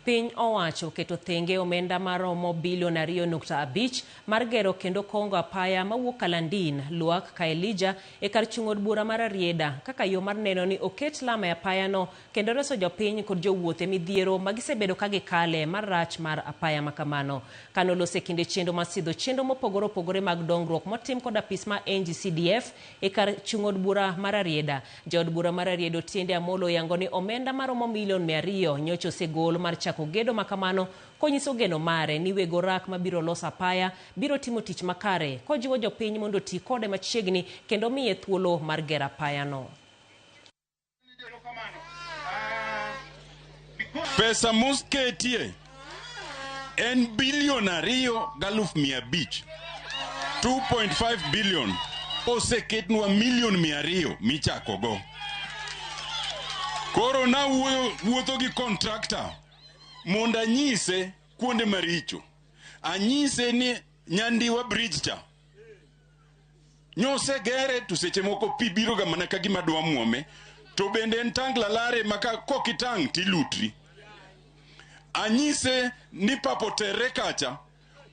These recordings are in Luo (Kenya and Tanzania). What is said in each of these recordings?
Piny owacho oketo thenge omenda maromo bilion ariyo nukta abich mar gero kendo kongo apaya mawuok Kalandin, Luak, Kaelija e kar chung' od bura ma Rarieda kaka yo mar neno ni oket lam e apayano kendo reso jopiny kod jowuoth e midhiero ma gisebedo ka gikale mar rach mar apaya ma kamano. Kanolos e kinde chenro mar sidho chenro mopogore opogore mag dongruok motim kod apis ma NGCDF, E kar chung' od bura ma Rarieda, ja od bura ma Rarieda Otiende Amolo oyango ni omenda maromo milion mia ariyo nyocha osegol mar chako gedo makamano konyiso geno mare ni weg orak mabiro loso apaya biro timo tich makare kojiwo jopiny mondo oti kode machiegni kendo omiye thuolo mar gero apayano. Pesa mosketie en bilion ariyo galuf mia abich 2.5 bilion oseketnwa milion mia ariyo michakogo. Koro nawuoyo wuotho gi kontrakta mondo anyise kuonde maricho, anyise ni Nyandiwa bridge cha Nyose gere to seche moko pi biro ga mana ka gima dwa muome to bende en tang lalare maka kokitang tilutri. Anyise ni papo terre kacha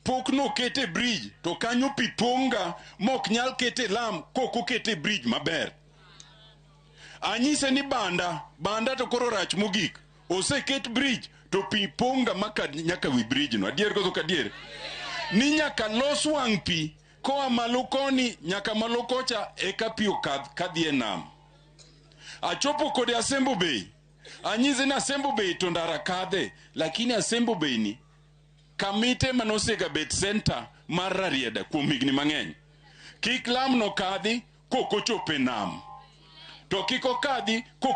pok nokete bridge to kanyo pi pong'ga mok nyal kete lam kok okete bridge maber. Anyise ni banda, banda to koro rach mogik. Oseket bridge to pi pong'ga maka nyaka wi bridge no. Adier koso ok adier? Ni nyaka los wang' pi Koa malo koni nyaka malo kocha eka pi okadh kadhi e nam. Achopo kode Asembo Bay, anyise ni Asembo Bay to ndara kadhe, lakini Asembo Bay ni kamite ema nosegabet senta mar Rarieda kuom higni mang'eny. Kik lamno kadhi kok ochopo e nam, to kik okadhi kok